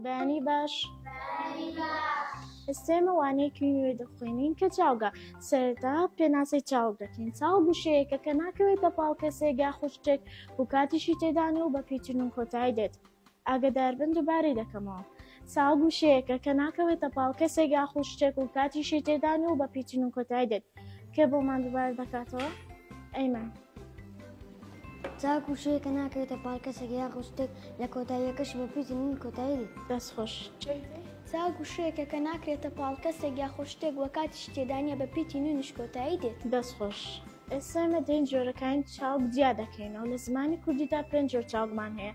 بەیانی باش ئێستێمە وانەیەکی نوێ دەخوێنین کە چاوگە سەرتا پێناسی چاو دەکەین چاو گوشەیەکە کە ناکەوێتە پاڵ کەسێک یا خوشتێک و کاتیشی تێدانە و بە پیچن و کۆتای دێت ئاگەداربن دوبارەی دەکەمەوە ساڵ گوشەیەکە کە ناکەوێتە پاڵ کەسێک یاخود شتێک و کاتیشی تێدان و بە پیتین و کۆتای دێت کێ بۆمان دوبار دەکاتەوە ئەیمەن ساڵ گوشەیەکە ناکەوێتە پاڵ کەسێک یاخود شتێک لە کۆتاییەکەش بە پیتین و کۆتایی دێت دەست خۆش ساڵ گوشەیەکە کە ناکرێتە پاڵ کەسێک یاخود شتێک و کاتیشی تێدانە بە پیتین و نیش کۆتایی دێت دەست خۆش ئێستا ئێمە دێین جۆرەکانی چاڵک جیا دەکەینەوە لە زمانی کوردیدا پێنج جۆر چاڵکمان هەیە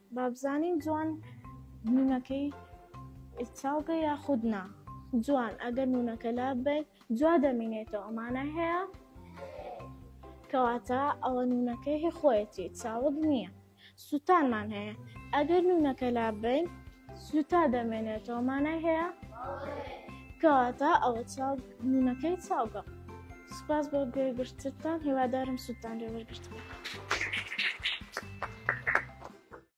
بابزانین جوان نونەکەی چاو بێ یاخود نا جوان ئەگەر نونەکە لاب بێت جوا دەمینێتەوە ئەمانە هەیە کەواتە ئەوە نونەکەی خۆیەتی چاوت نییە سووتانمان هەیە ئەگەر نونەکە لاب بین سوتا دەمێنێتەوە مانای هەیە کەواتە ئەوە چاو نونەکەی چاوگە سپاس بۆ گوێگرتتان هیوادارم سووتان لێ وەرگرتن.